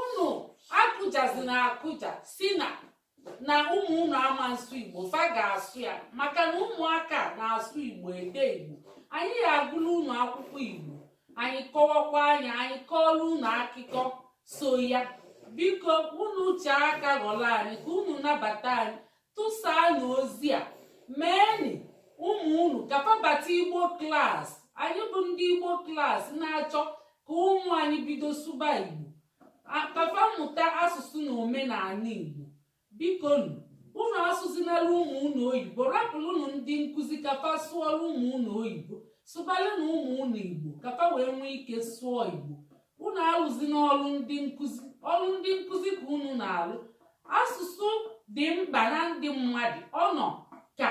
unu akụjazina akụja sị na na ụmụ unu ama nsụ igbo fa ga-asụ ya maka na ụmụaka na-asụ igbo ede igbo anyị ga-agụla unu akwụkwọ igbo anyị kọwakwaa nya anyị kọọla unu akụkọ so ya biko unu chee aka ghọrọ anyị ka unu nabata anyị tụsaanụ ozi a meenị ụmụ unu ka fa bata igbo klas anyị bụ ndị igbo klas na-achọ ka ụmụ anyị bido sụba igbo ka fa mụta asụsụ na omenala igbo biko unu asụzinala ụmụ unu oyibo rapụlụnụ ndị nkụzi ka fa sụọlụ ụmụ unu oyibo sụbalụnụ ụmụ unu igbo ka fa wee nwee ike sụọ igbo unu alụzina ọlụ ndị nkụzi ọlụ ndị nkụzi ka unu na-alụ asụsụ dị mkpa na ndụ mmadụ ọ nọ ka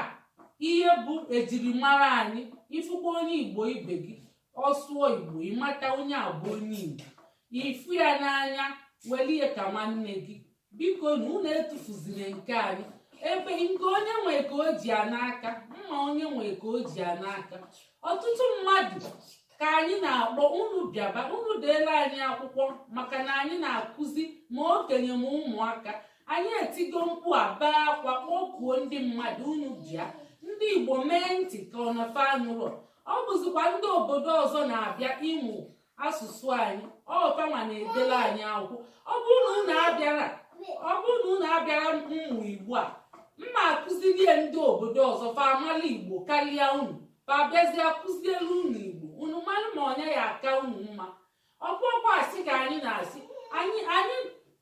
ihe bụ ejirimara anyị ị fụkwa onye igbo ibe gị ọ sụọ igbo ị mata onye a bụ onye igbo ị fụ ya n'anya welụ ya ka nwanne gị bikonụ unu etufuzine nke anyị ebe nke onye nwe ka o ji ya n'aka mma onye nwe ka o ji ya n'aka ọtụtụ mmadụ ka anyị na-akpọ unu bịaba unu deela anyị akwụkwọ maka na anyị na-akụzi ma okenye ma ụmụaka anyị etigo mkpu a bee akwa kpọkuo ndị mmadụ unu bịa ndị igbo mee ntị ka ọ na fa anụrọ ọ bụzikwa ndị obodo ọzọ na-abịa ịmụ asụsụ anyị ọ fanwa na-edela anyị akwụkwọ ọ bụrụ na unu abịarọ ọ bụrụ na unu abịarọ ịmụ igbo a mma akụzilie ndị obodo ọzọ fa amala igbo karịa unu fa bịazie akụzielụ unu igbo unu malụ ma ọ nya ya-aka unu mma ọ bụrọkwa asị ka anyị na-asị anyị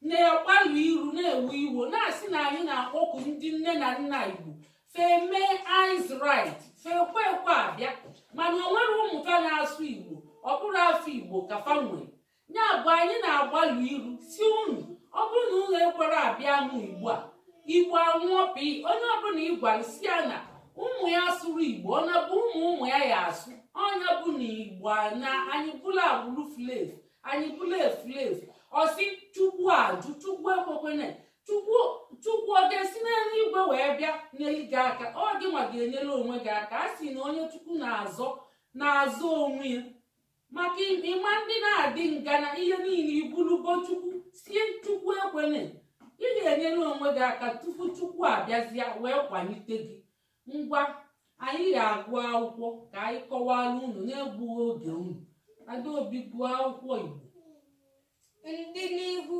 na-agbalụ iru na-ewu iwo na-asị na anyị na-akpọku ndị nne na nna igbo fa emee eyes right fekwa ekwe abịa mana o nwerọ ụmụ fa na-asụ igbo ọ bụrụ afa igbo ka fa nwere ya bụ anyị na-agbalụ iru sị unu ọ bụrụ na unu ekwerọ abịa mụ igbo a igbo anwụọ pi onye ọbụla ị gwara sị ya na ụmụ ya asụrọ igbo ọ na bụ ụmụ ụmụ ya ya-asụ ọ nya bụ na igbo anaa anyị bụla agbụrụ efulefu anyị bụla efulefu ọ sị chukwu ajụ chukwu ekwekwene chukwu ọ ga-esi n'eluigwe wee bịa nyere gị aka ọ gị nwa ga-enyere onwe gị aka a sị na onye chukwu na-azọ na-azọ onwe ya maka ị ma ndị na-adị ngana ihe niile i bulugo chukwu sị ya chukwu ekwene ị ga-enyere onwe gị aka tupu chukwu abịazịa wee kwalite gị ngwa anyị ga-agụ akwụkwọ ka anyị kọwara unu na-egbughị oge unu adaobi gụọ akwụkwọ igbo ndị n'ihu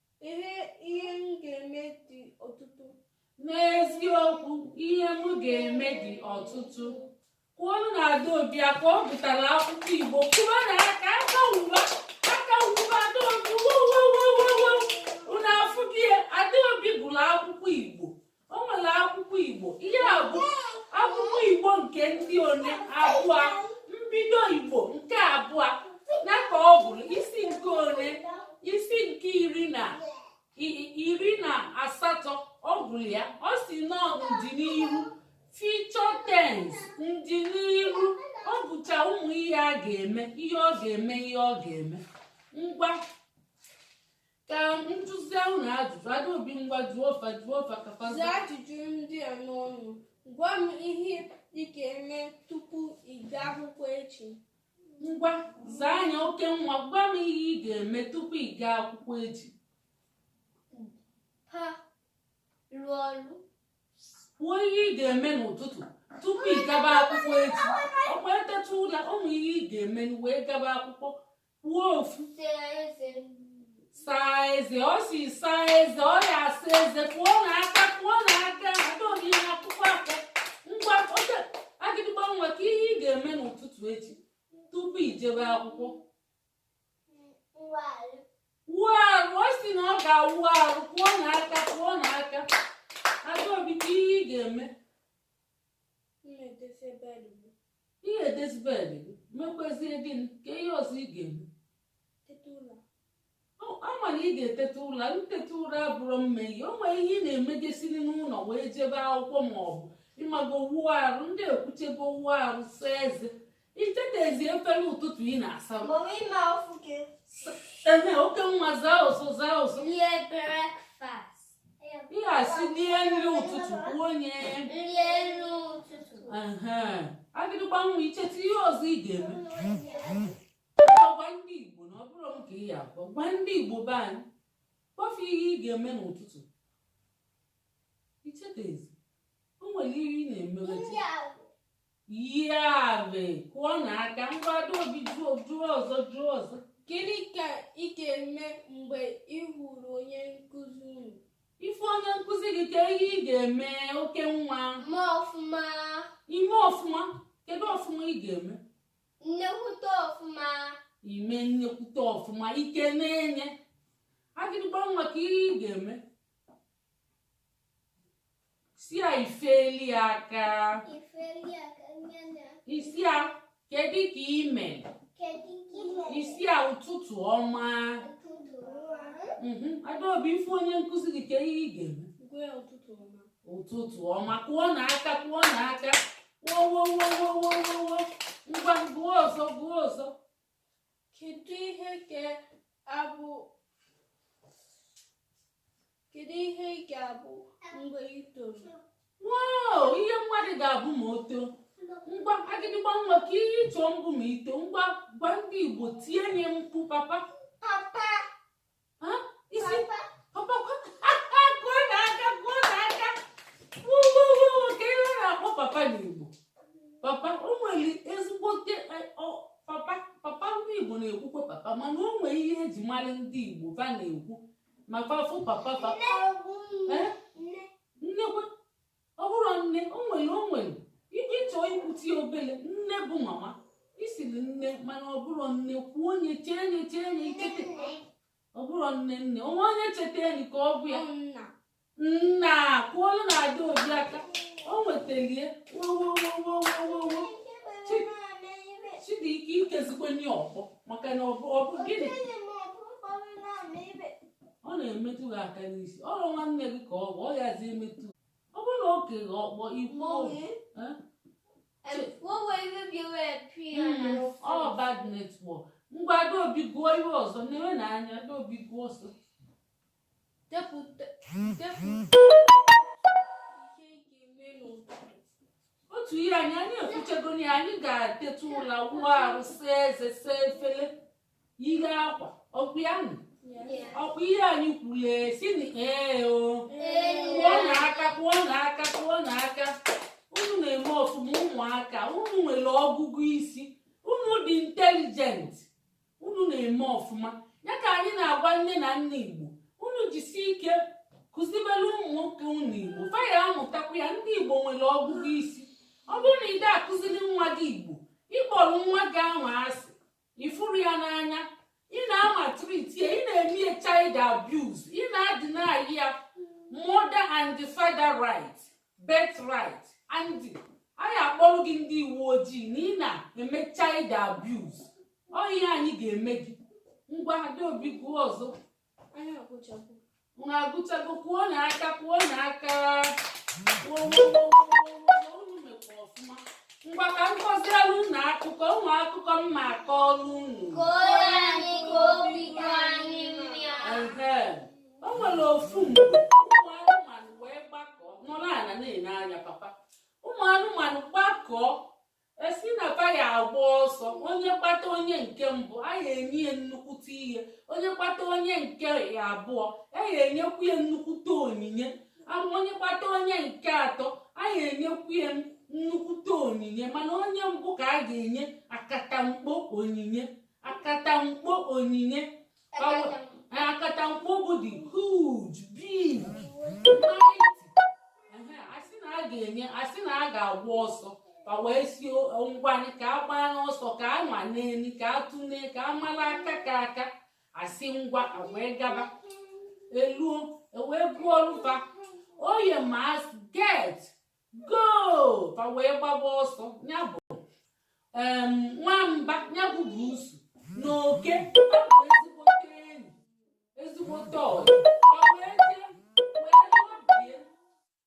Ihe ihe m ga-eme dị ọtụtụ. N'eziokwu, ihe m ga-eme dị ọtụtụ. Kụọnụ Adaobi aka ọ gụtara akwụkwọ Igbo kụọnụ ya aka aka wuba aka wuba Adaobi wuwuwuwuwu unu afụbie Adaobi gụrụ akwụkwọ Igbo o nwere akwụkwọ igbo ihe a bụ akwụkwọ igbo nke ndị one abụọ mbido igbo nke abụọ na ka ọ gụrụ isi nke one isi nke iri na iri na asatọ ọ gụrụ ya ọ sị na ọ ndịnihu future tense ndịnihu ọ bụcha ụmụ ihe a ga-eme ihe ọ ga-eme ihe ọ ga-eme ngwa ka ntụzi ahụ na ajụjụ Adaobi ngwa jụọ fa jụọ fa ka fa zaa ajụjụ ndị a n'ọnụ gwa m ihe ị ga-eme tupu ị gaa akwụkwọ echi ngwa zaanụ ya oke nwa gwa m ihe ị ga-eme tupu ị gaa akwụkwọ echi ha rụọ ọrụ kwuo ihe ị ga-eme n'ụtụtụ tupu ị gaba akwụkwọ echi ọkwa e teta ụla ụmụ ihe ị ga-eme wee gaba akwụkwọ kwuo ofu saa eze ọ sị saa eze ọ ya-asa eze kụọnụ aka kụọnụ aka Adaobi ị na-akụkwa aka ngwa oge agịdịgba nwa kee ihe ị ga-eme n'ụtụtụ echi tupu i jebe akwụkwọ wuo arụ ọ sị na ọ ga-awụ arụ kụọnụ aka kụọnụ aka Adaobi kee ihe ị ga-eme ị ya-edezi bed gị mekwazie gịnị kee ihe ọzọ ị ga-eme a ma na ị ga-eteta ụra nteta ụra abụrọ mme ihe o nwere ihe ị na-emegesiri n'ụlọ wee jebe akwụkwọ ma ọ bụ ị mago wuo arụ ndị e kwuchego wuo arụ saa eze i chetezi efere ụtụtụ ị na-asa oke nwa zaa ụzọ zaa ụzọ ihe a sị lie nri ụtụtụ kwuo onye agịdịgba nwa i cheta ihe ọzọ ị ga-eme gwa ndị Igbo na ọ bụrọ m ka ị ya-agwa gwa ndị Igbo be anyị kpọfe ihe ị ga-eme n'ụtụtụ i chetezi o nwere ihe ị na-eme Yave, kụọnụ aka ngwa Adaobi jụọ jụọ ọzọ jụọ ọzọ. Gịnị ka ị ga-eme mgbe ị hụrụ onye nkụzi unu? Ị fụ onye nkụzi gị kee ihe ị ga-eme oke nwa. Ma ọfụma. Ime ọfụma. Kedu ọfụma ị ga-eme? Nnekwute ọfụma. Ime nnekwute ọfụma i kenee ya. Agịdịgba nwa kee ihe ị ga-eme. sị ya i feli aka ị sị ya kedu ka i me ị sị ya ụtụtụ ọma mhm. adaobi ị fụ onye nkụzi gị kee ihe ị ga-eme ụtụtụ ọma kụọnụ aka kụọnụ aka wowowowowowowo ngwa gụọ ọzọ gụọ ọzọ kedu ihe ị ga-abụ Kedu ihe ị ga-abụ mgbe ị toro? Wow, ihe mmadụ ga-abụ ma o too. Ngwa agịdịgba nwa kee ihe ị chọ ịbụ ma i too ngwa gwa ndị Igbo tie nye mkpu papa. Papa. Ha? Ị sị papa kwa kụọnụ aka kụọnụ aka. Wuwuwu kee ihe a na-akpọ papa n'Igbo. Papa o nwere ezigbote papa papa ndị Igbo na-ekwukwa papa mana o nwere ihe e ji mara ndị Igbo va na-ekwu ma va fụ papa papa eh? nnekwe ọ bụrụ nne o nwere o nwere ike chọọ ikwuti obele nne bụ mama ị sịrị nne mana ọ bụrụ nne kwuo onye chee nye chee nye ikete ọ bụrụ nne nne o nwe onye cheta enyi ka ọ bụ ya nna kụọlụnụ adaobi aka o nwetalie wowowowowowo chidi ike ikezikwe nye ọkpọ maka na ọ bụ ọ bụ gịnị ọ na-emetụ gị aka n'isi ọrụ nwanne gị ka ọ bụ ọ yazi emetụ ọ bụrụ na o kee gị ọkpọ i kwuo ọ bad network ngwa adaobi gụọ ihe ọzọ na-enwe na anya adaobi gụọ ọsọ depụta otu ihe anyị anyị ekwuchego ya anyị ga-eteta ụla wụọ arụ saa eze saa efele yie akwa ọ kwa ya nụ ọ kwa ihe anyị kwuru e sị na ee o kụọnụ aka kụọnụ aka kụọnụ aka unu na-eme ọfụma ụmụaka unu nwere ọgụgụ isi unu dị intelijent unu na-eme ọfụma ya ka anyị na-agwa nne na nna igbo unu jisi ike kụzibere ụmụ nwoke unu igbo fa ya-amụtakwa ya ndị igbo nwere ọgụgụ isi ọ bụrụ na i de akụziri nwa gị igbo ị kpọrọ nwa gị ahụ asị ị fụrọ ya n'anya ị na-amaltreat ya ị na-eme ya child abuse ị na-adeny ya mother and father right birthright and anyị akpọrọ gị ndị uwe ojii na ị na-eme child abuse ọ ihe anyị ga-eme gị ngwa adaobi gụọ ọzọ Anyị agụchago. unu agụchago kụọnụ aka kụọnụ aka unu mekwa ọfụma ngwa ka m kọzielu unu akụkọ o nwe akụkọ m ma-akọlụ unu Kọọrọ anyị ka obi dị anyị mma. Ehe. o nwere ofu mgbe ụmụ anụmanụ wee gbakọọ nọrọ ala na-ene anya papa ụmụ anụmanụ gbakọọ esi na fa ya agba ọsọ onye gbata onye nke mbụ a ya enye ya nnukwute ihe onye gbata onye nke abụọ a ya enyekwu ya nnukwute onyinye onye gbata onye nke atọ a ya enyekwu ya nnukwute onyinye mana onye mbụ ka a ga-enye akatamkpo onyinye akatamkpo onyinye akatamkpo bụ the huge big mighty asị na a ga-enye asị na a ga-agba ọsọ a wee sị ngwanị ka a gbaa n'ọsọ ka a nwanee nị ka a tụne ka a mara aka ka aka asị ngwa wee gaba eluo ewee gụọlụ fa on your mark get go fa wee gbaba ọsọ ya bụ nwamba ya bụ buusu na oke ezigbote enyi ezigbote ọyị fa wee jee wee lọbie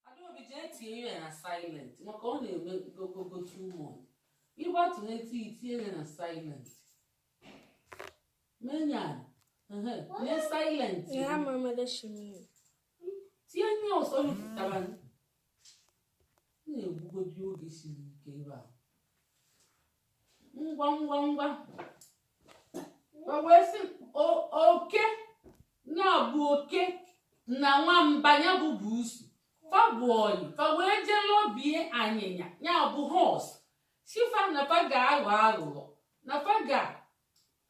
adaobi jee tinye ya na silent maka ọ na-eme gogogo too much ịgbatụ n'etu itinye ya na silent menye ya na silent tinye ya ọsọ mepụtara na-egbugodi oge siri ike ebe a ngwa ngwa ngwa a wee sị oke ya bụ oke na nwamba ya bụ buusu fa bụ ọyị fa wee jee lọbie anyịnya ya bụ horse sị fa na fa ga-aghọ aghụghọ na fa ga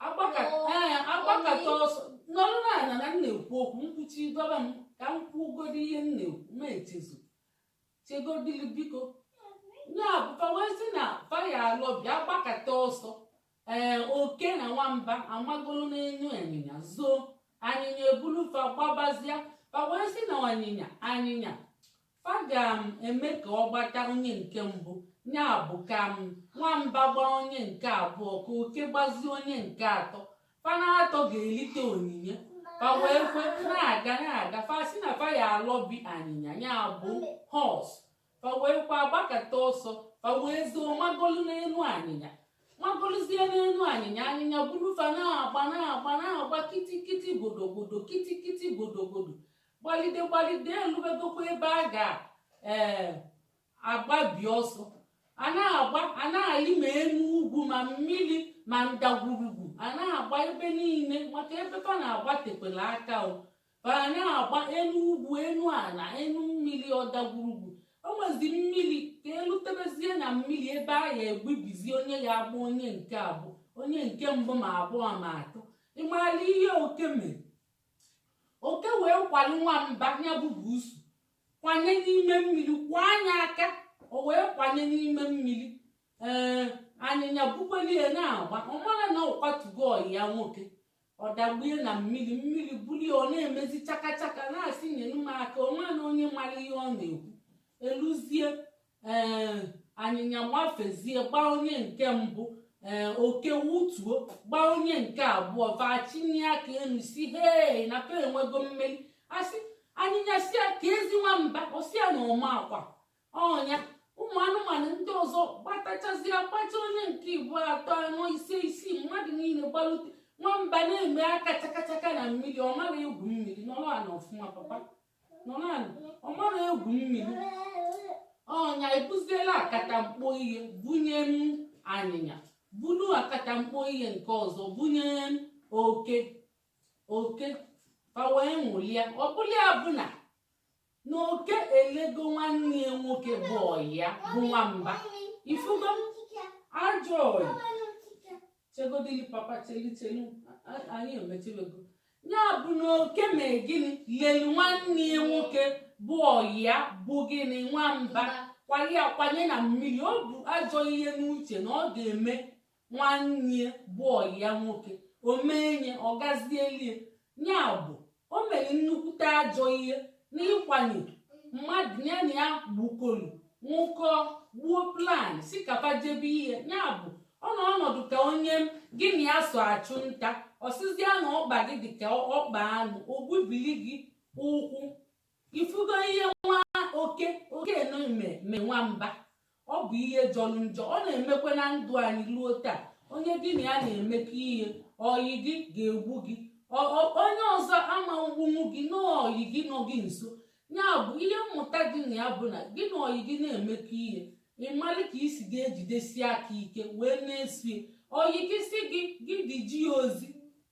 agbakata ọsọ nọrọ n'ala na m na-ekwu okwu mkpuchi dọba m ka m kwugodi ihe m na-ekwu ma echezọ chegodili biko ya bụ fa wee sị na fa ya alọbi agbakata ọsọ ee oke na nwamba amagolu n'enu anyịnya zoo anyịnya ebulu fa gbabazia fa wee sị na anyịnya anyịnya fa ga-eme ka ọ gbata onye nke mbụ ya bụ ka nwamba gbaa onye nke abụọ ka oke gbazie onye nke atọ fa na atọ ga-elite onyinye fa wee kwe na-aga na-aga fa sị na fa ya alọbi anyịnya ya bụ horse fa wee kwa agbakata ọsọ fa wee zoo magolu n'enu anyịnya magoluzie n'enu anyịnya anyịnya buru fa na-agba na-agba na-agba kitikiti godogodo kitikiti godogodo gbalide gbalide elubegokwa ebe a ga-agbabi ọsọ a na-agba a na-alị ma enu ugwu ma mmiri ma ndagwurugwu a na-agba ebe niile maka ebe fa na-agba tekwere aka o fa na-agba enu ugwu enu ala enu mmiri ọdagwurugwu o nwezi mmiri ka elutebezie na mmiri ebe a ya egbubizi onye ya agba onye nke abụọ onye nke mbụ ma abụọ ma atọ ị mara ihe oke mere oke wee kwali nwamba ya bụ buusu kwanye n'ime mmiri kwaa ya aka o wee kwanye n'ime mmiri ee anyịnya bukwelie na-agba ọ marọ na ọ kwatugo ọyị ya nwoke ọ dagbue na mmiri mmiri bulie ọ na-emezi chakachaka na-asị nyenu m aka onwe na onye mara ihe ọ na-ekwu eluzie ee anyịnya gbafezie gbaa onye nke mbụ ee oke wutuo gbaa onye nke abụọ fa chinye aka elu sị hei na fa enwego mmeri a sị anyịnya sị ya keezi nwamba ọ sị ya na ọ makwa ọ nya ụmụ anụmanụ ndị ọzọ gbatachazie gbacha onye nke ịgba atọ anọ ise isii mmadụ niile gbalute nwamba na-eme aka chakachaka na mmiri ọ marọ egwu mmiri nọrụ ana ọfụma papa nọ n'anị ọ marọ egwu mmiri ọ nya ebuziela akatamkpo ihe bunyenu anyịnya bulu akatamkpo ihe nke ọzọ bunyenu oke oke fa wee ṅụlia ọ bụlụ ya bụ na na oke elego nwanne ya nwoke bụ ọyị ya bụ nwamba ị fụgo ajọ ọyị chegodili papa chelu chelu a- a- anyị emechewego ya bụ na oke mee gịnị lelu nwanne ya nwoke bụ ọyị ya bụ gịnị nwamba kwali ya kwanye na mmiri o bu ajọ ihe n'uche na ọ ga-eme nwanne ya bụ ọyị ya nwoke o menye ọ gazielie ya bụ o mere nnukwute ajọ ihe n'ịkwanye mmadụ ya na ya bikọlụ nwụkọ gbuo plan sị ka fa jebe ihe ya bụ ọ nọ ọnọdụ ka onye gị na ya so achụ nta ọ sịzịa na ọkpa gị dị ka ọkpa anụ o gbubili gị ụkwụ ị fụgo ihe nwa oke oke ụnọ me me nwamba ọ bụ ihe jọrọ njọ ọ na-emekwa na ndụ anyị ruo taa onye gị na ya na-emekọ ihe ọyị gị ga-egbu gị onye ọzọ ama egbunwu gị na ọyị gị nọ gị nso ya bụ ihe mmụta dị na ya bụ na gị na ọyị gị na-emekọ ihe ị malị ka ị si ga-ejidesi aka ike wee na-esie ọyị gị si gị gị dị ji ya ozi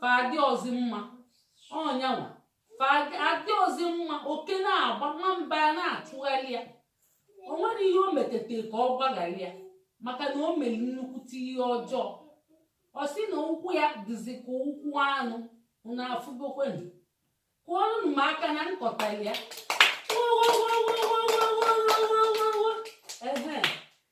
fa adịrọzi mma ọ nya nwa fa adị- adịrọzi mma oke na-agba nwamba ana-achụgharị ya o nwerọ ihe o metete ka ọ gbaghara ya maka na o mere nnukwute ihe ọjọọ ọ sị na ụkwụ ya dịzi ka ụkwụ anụ unu afụgokwenụ kụọnụnụ m aka na m kọtara ya ehe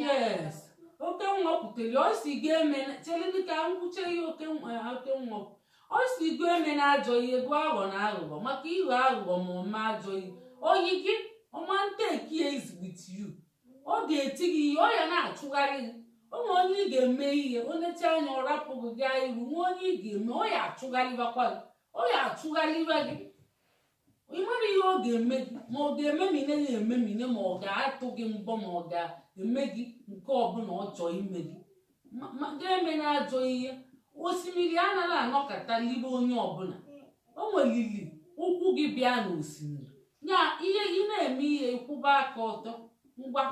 yes Okenwa kwutere ọ sị gị eme chelele ka m kwuche ihe Okenwa Okenwa kwu. ọ sị gị emena ajọ ihe bụ aghọna aghụghọ maka ịghọ aghụghọ ma ọma ajọ ihe oyi gị ọ ma n-take ya easy with you ọ ga-eti gị ihe ọ ya na-achụgharị gị o nwee onye ị ga-eme ihe o necha anya ọ rapụ gị gaa iru nwa onye ị ga-eme ọ ya achụgharịbakwa gị ọ ya achụgharịba gị ị mara ihe ọ ga-eme gị ma ọ ga-ememine ya ememine ma ọ ga-atụ gị mbọ ma ọ ga-eme gị nke ọbụla ọ chọọ ime gị Ma- ma gị emena ajọ ihe osimiri anaghị anọkata libe onye ọbụla o nwelili ụkwụ i ji bịa n'osimiri ya ihe ị na-eme ihe ị kwụba aka ọtọ ngwa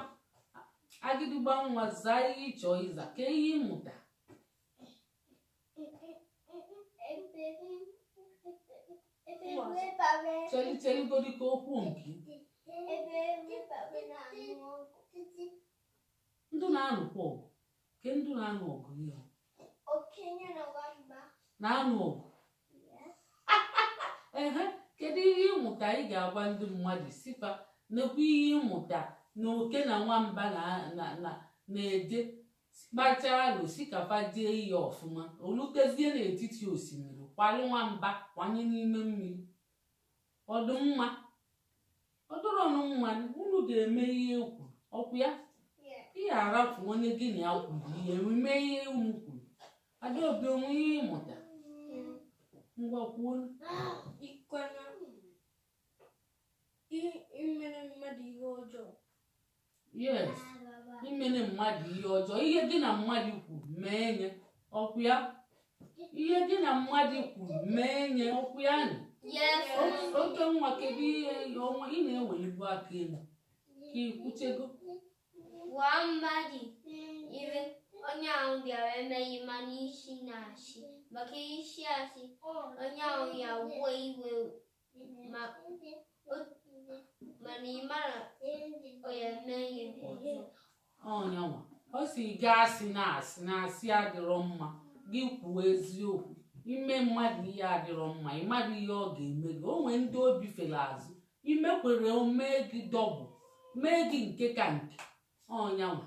Agidigba nwa zaa ihe ị chọọ ịza kee ihe ị mụta chelugodu ka okwu nke ndị na-anụkwa ọgụ kee ndị na-anụ ọgụ ị na-anụ ọgụ ehe kedu ihe ị mụta ị ga-agwa ndị mmadụ sị fa nekwa ihe ị mụta na oke na nwamba na-eje Kpachaa alo sị ka fa jee iyi ọfụma, o lutezie n'etiti osimiri, kwalụ nwamba kwanye n'ime mmiri. Ọ dị mma? Ọ dịrọnụ mma, unu ga-eme ihe e kwuru, ọ kwa ya? Ị ga-arapụ onye gị na ya kwuru ihe, unu mee ihe unu kwuru. Adaobi o nwe ihe ị mụta. Ngwa kwuo. Ikwana emena mmadụ ihe ọjọọ yes emena mmadụ ihe ọjọọ ihe gị na mmadụ kwuru meenụ ya ọ kwa ya ihe gị na mmadụ kwuru meenụ ya ọ kwa ya nị Okenwa kedu ihe ọnwa ị na-ewelibu aka elu ka i kwuchago gwa mmadụ ihe onye ahụ bịara emeghị ma na ịsịna asị maka ị sị asị onye ahụ ya-ewe iwe ma mana ị mara onye mee ihe ọzọ ọnyanwa ọ sị gị asịna asị na asị adịrọ mma gị kwuo eziokwu ime mmadụ ihe adịrọ mma ị mara ihe ọ ga-eme gị o nwee ndị obi fere azụ i mekwa ya o mee gị double mee gị nke ka nke ọnyanwa